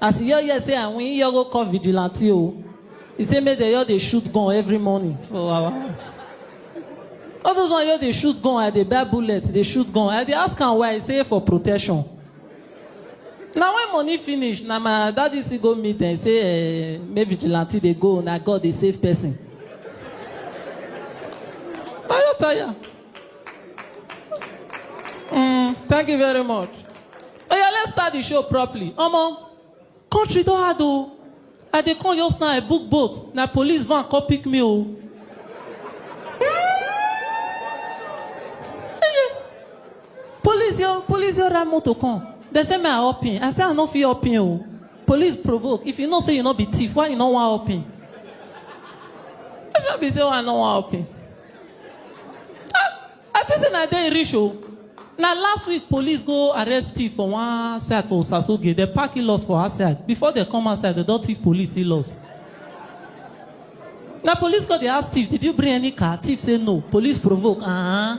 As he hear hear say I win, he hear go call vigilante o. He say make dem just dey shoot gun every morning for our house. All those ones just dey shoot gun, I dey buy bullet, dey shoot gun. I dey ask am why, he say for protection. Na when money finish, na my daddy still go meet dem, say eh, make vigilante dey go, na God dey save person. Tire tire. Mm, thank you very much. Oh yeah, let's start the show properly. Omo, country don hard o. I dey come just now, I book boat. Na police van come pick me o. Police yo, police yo ride motor come. They say me I hop in. I say I no fit hop in o. Police provoke. If you know say you no be thief, why you no wan hop in? I just be say why I no wan hop in. I think say na there e reach o. Na last week police go arrest thief for one side for Osasoge. Dem park he loss for outside. Before dem come outside, dem don thief police he loss. Na police go dey ask thief, did you bring any car? Thief say no. Police provoke. Uh-huh.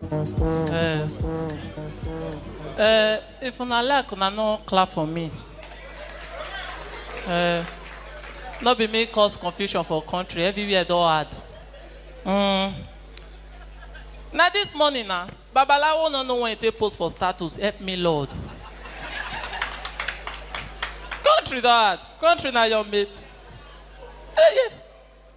Eh, eh, if una like, una no clap for me. Eh, no be me cause confusion for country, everywhere don hard. Mm. Na this morning na, Babalawo no know when he take post for status, help me Lord. country don hard, country na your mate. Eh, yeah.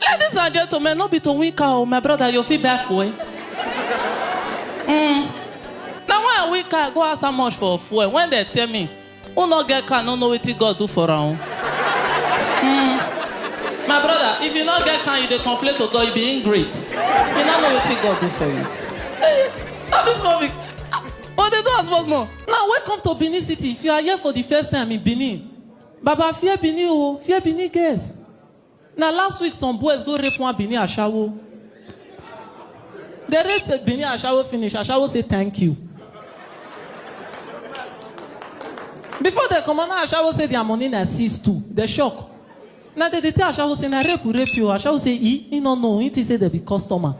Ladies and gentlemen, no be to win car o, my brother, you fit buy fuel. Mm. Na when I win car, I go ask how much for fuel. When dem tell me, who no get car no know wetin God do for am. Mm. My brother, if you no get car, you dey complain to God, you be ingrate. You no know wetin God do for you. Hey, no be small be. But they do as much more. Now welcome to Benin City. If you are here for the first time in Benin, Baba fear Benin o, fear Benin girls. Na last week some boys go rape one Benin ashawo. Dem rape Benin ashawo finish, ashawo say thank you. Before dem comot na ashawo say their money na seize too, dem shock. Na dem dey tell ashawo say na rape we rape you, ashawo say e, he no know, he think say dem be customer.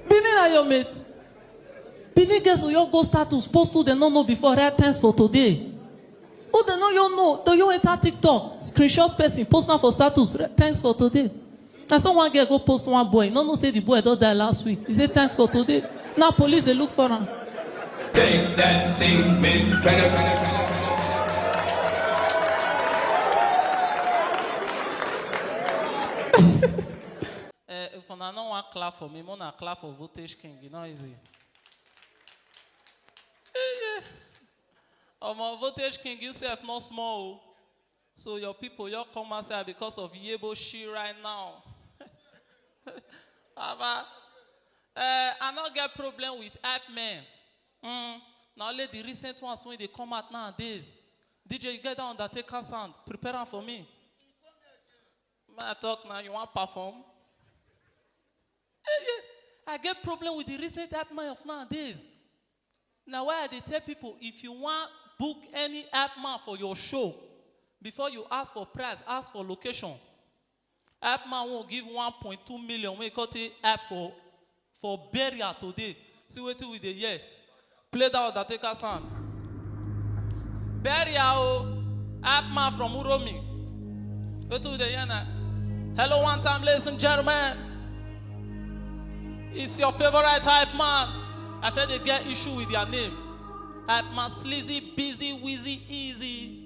Benin na your mate? Benin girls will your go status post who dem no know before write thanks for today. Who dem no your know to your enter TikTok screenshot person post am for status write thanks for today. Na so one girl go post one boy no know say the boy don die last week he say thanks for today now police dey look for am. Take that thing, Miss Canada, Canada, Canada. Eh, if una no wan clap for me, make una clap for Voltage King. E no easy. Eh, Omo, Voltage King, you sef no small o. So your people, you come outside because of Yebo Shi right now. Baba, eh, I no get problem with hype men. Mm, na only the recent ones wey dey come out nowadays. DJ, you get that Undertaker sound? Prepare am for me. May I talk now? You want perform? Eh, yeah. I get problem with the recent app man of nowadays. Now why I dey tell people if you want book any app man for your show, before you ask for price, ask for location. App man won't give 1.2 million when you cut it app for for burial today see wetin we dey hear play that undertaker sound burial o hype man from uromi wetin we dey hear na hello one time ladies and gentlemen it's your favourite hype man i fit dey get issue with their name hype man sleazy busy wheezy easy.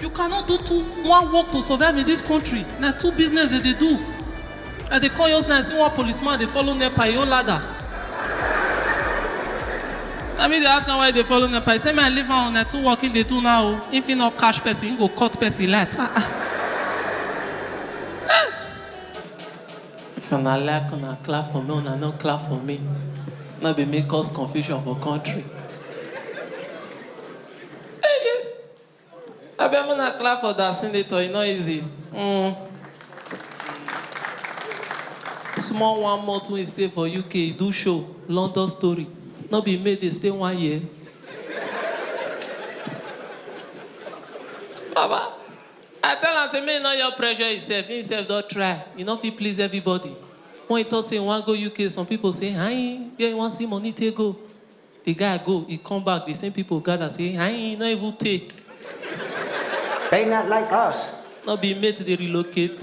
You cannot do two one work to survive in this country na two business dem dey do I dey come just now I see one police man dey follow nepa he own ladder na me dey ask am why he dey follow nepa he say me I leave am o na two work he dey do now o if he no catch person he go cut person light ah ah eh if una like una clap for me una no clap for me no be me cause confusion for country. Abeg make una clap for da senator e no easy um small one month wey e stay for UK e do show London story no be made dey stay one year baba I tell am say make e no just pressure e self e self don try e no fit please everybody when e talk say e wan go UK some people say aii where e wan see money take go The guy go, e come back, the same people gather say, Aii, e no even tey. They not like us. No be mate dey relocate.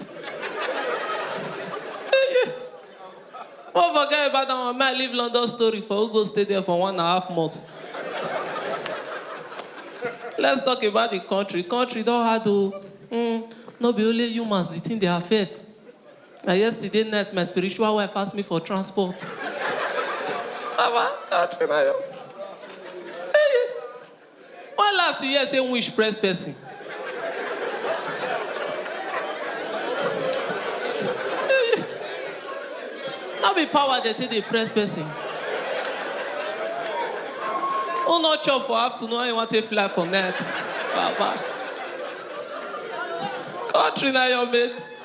Won forget about that one, man leave London story for who go stay there for one and a half months. Let's talk about the country. Country don hard o. Mm, no be only humans the thing dey affect. Na yesterday night my spiritual wife ask me for transport. Baba, God na your. Hey, when last you hear say wish press person? Hey, no be power dey take dey press person. Who no chop for afternoon and you wan take fly for night? Baba. Country na your mate.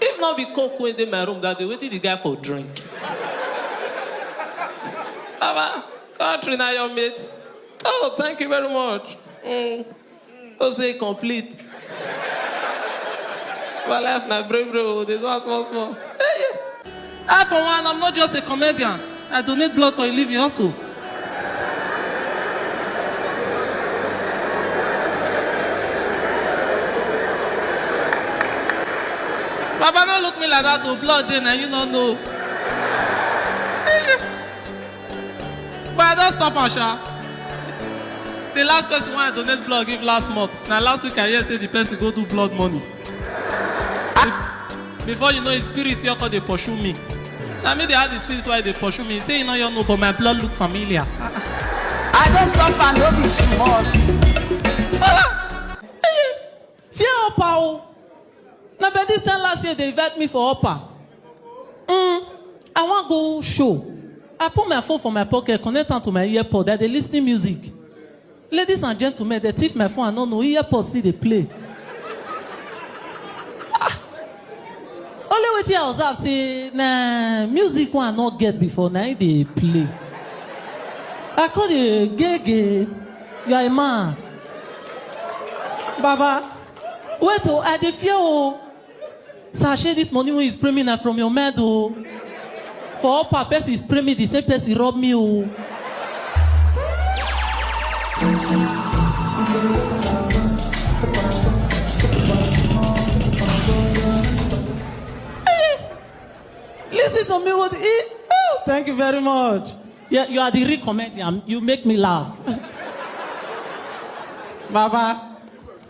If not be coke wey dey my room that day, wetin the guy for drink? Baba, country na your mate. Oh, thank you very much. Mm. Hope say e complete. My life na brave brave, oh, dey do am small small. Hey, yeah. I for one am not just a comedian, I donate blood for a living also. Baba no look me like that o, blood dey na you no know. But I don stop am sha. The last person wey I donate blood give last month, na last week I hear say the person go do blood money. before you know his spirit your call dey pursue me na me dey ask the spirit why e dey pursue me say e no your know but my blood look familiar I don suffer no be small. fear upper o na by this time last year dey invite me for upper mm, i wan go show i put my phone for my pocket connect am to my earpod i dey lis ten music Ladies and gentlemen, they thief my phone, I no know, earpod still dey play. Ah! Only wetin I observe say na music wey I no get before na im dey play. I come dey gege, you are a man. Baba, wait o, I dey fear o. Sir, shey this money wey you spray me na from your mind o. For upper person spray me the same person rub me o. Listen to me with e. Oh, thank you very much. Yeah, you are the real comedian. You make me laugh. Baba,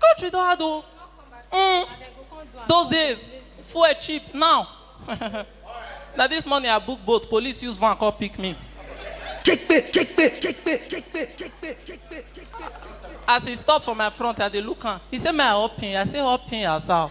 country don hard o mm. those days fuel cheap now na this morning i book boat police use van come pick me as he stop for my front i dey look am he say may i help him i say help him as how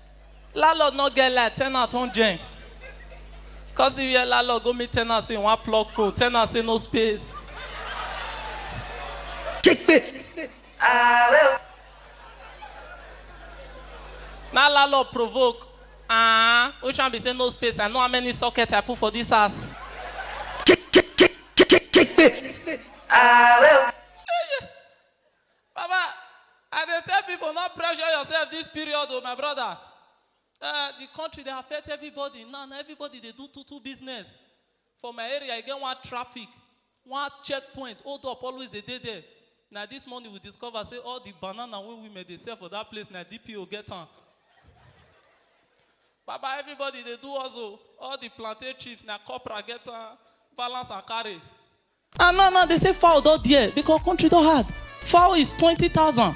Landlord no get light, tenant wan join. Cause if your landlord go meet tenant say he wan plug phone, tenant say no space. Na landlord provoke. Ah, which one be say no space? I know how many socket I put for this house. Baba, I dey tell people not pressure yourself this period oh my brother. Uh, the country dey affect everybody now, now everybody dey do two two business. For my area, I get one traffic, one checkpoint, hold up always dey dey there. Now this morning we discover say all the banana wey women dey sell for that place na DPO get am. Baba, everybody dey do also. All the plantain chips na copra get am, balance and carry. And now now dey say fowl don dare because country don hard fowl is twenty thousand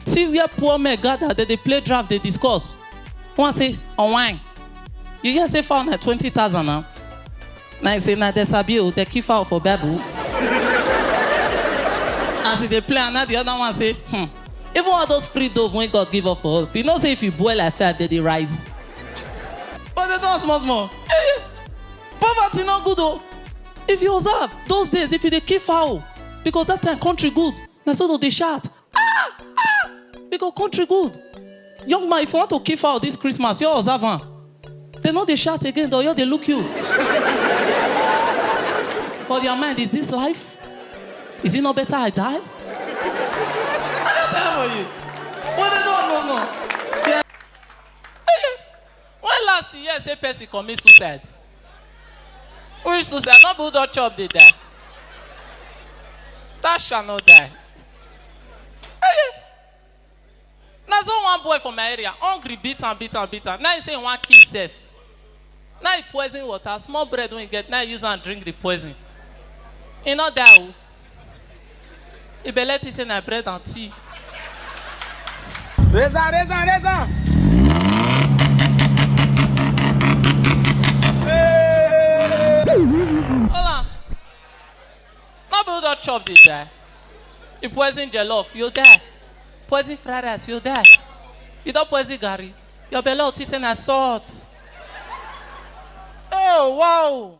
see where poor men gather dem dey play draft dey discuss one say unwine you hear say fowl na twenty thousand na na him say na dem sabi o dem kill fowl for bible as he dey play am na the other one say hmm even all those free dove wey God give us for us you know say if you boil like fire dem dey rise but dem don small small poverty no good o if you observe those days if you dey kill fowl because that time country good na so dem dey shout ah ah because country good young man if you want to kill fowl this christmas you observe am dem no dey shout again dem just dey look you for their mind is this life is it not better i die i just tell you wey dem no know no. When last you hear say person commit suicide? Which suicide? No be who don chop dey die. That shall not die. Eh, Na so one boy for my area hungry beat am beat am beat am now he say he wan kill himself. Now he poison water small bread wey he get now he use am drink the poison. He no die o. E be let you say na bread and tea. Raise on, raise on, raise on. Hola. No be who don chop dey die. You poison jollof, you die. Poison fried rice, you die. You don poison garri. Your belle go think say na salt. Oh, wow.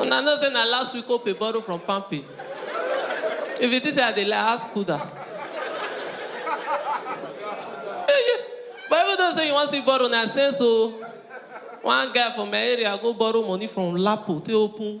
una know say na last week ope borrow from pampe if you think say i dey lie ask kuda but even though say you wan see borrow na sense o one guy for my area go borrow money from lapo take open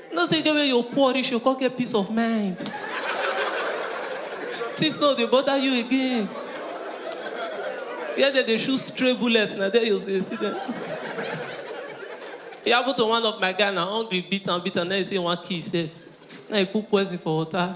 You know say e get where you poor reach, you go come get peace of mind. Things no dey bother you again. Where dem dey shoot stray bullets, na there you go dey see dem. E happen to one of my guy na, hungry beat am beat am, na im e say e wan kill himself, na im e put poison for water.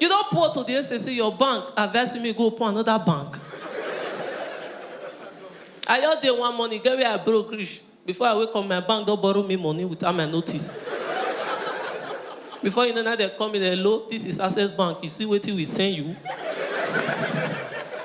You don poor to the extent say your bank advise you make you go open another bank. I just dey one morning, get where I broke reach. Before I wake up, my bank don borrow me money without my notice. Before you know, now they call me, hello, this is Access Bank. You see wetin we send you?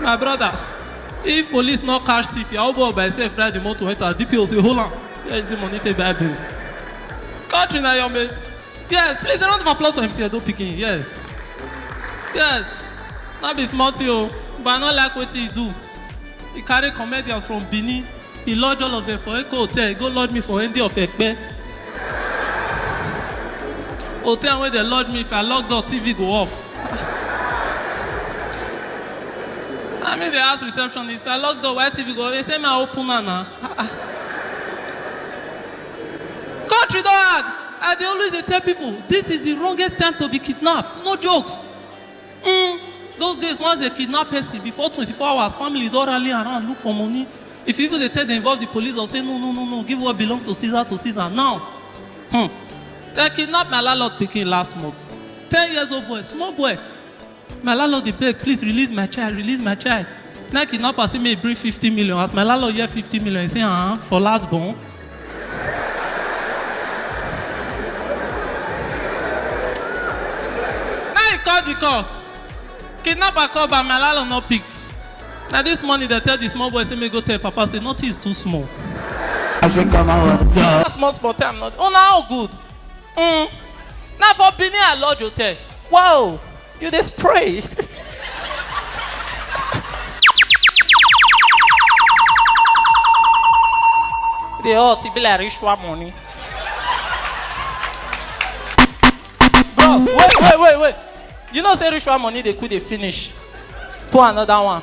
my brother if police no catch thief your old boy by himself ride the motor enter dpo say hold on where is the money take buy beans country na your mate yes please a round of applause for mc edo pikin yes yes no be small thing o but i no like wetin he do he carry comedians from benin He lodge all of them for Eko Hotel, he go lodge me for Endi of Ekpe. Hotel where they lodge me, if I lock door, TV go off. I mean, they ask receptionist, if I lock door, why TV go off? They say, my open now. Country dog! I dey always dey tell people, this is the wrongest time to be kidnapped. No jokes. Mm, those days once they kidnap person before 24 hours family don rally around look for money if you even dey tell dem involve the police or say no no no no give what belong to caesar to caesar now hmm. they kidnap my landlord pikin last month ten years old boy small boy my landlord dey beg please release my child release my child na kidnapper say make he bring fifty million as my landlord hear fifty million he say ah uh -huh, for last born Now you call the call. Kidnapper call but my landlord no pick. Na this morning they tell the small boy say make go tell papa say nothing is too small. I say come out. That small small time not. Oh na how good. Mm. Na for Benin I lodge hotel. Wow. You dey spray. You dey hot, e be like ritual money. Bro, wait, wait, wait, wait. You know say ritual money dey quick dey finish. Pour another one.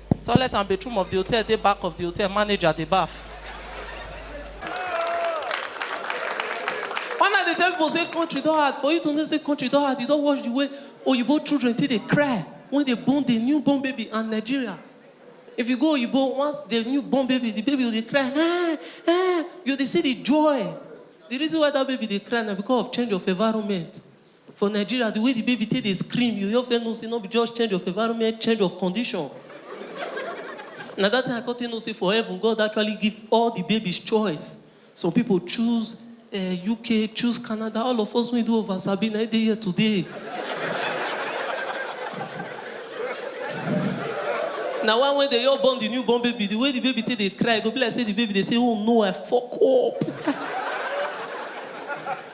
Toilet and bathroom of di hotel dey back of di hotel manager dey baff. When I dey tell people say country don hard for you to know say country don hard you don watch di way oyibo children take dey cry when dey born di new born baby and Nigeria if you go oyibo once di new born baby di baby go dey cry eeh eeh you go dey see di joy di reason why dat baby dey cry na because of change of environment. For Nigeria, the way the baby take dey scream, you yourf first know say no be just change of environment, change of condition. Na that time I come take know say for heaven, God actually give all the babies choice. Some people choose eh, UK, choose Canada, all of us wey do over sabi na im dey here today. Na why when they all born the newborn baby, the way the baby take dey cry, e go be like say the baby dey say, oh no, I fuck up.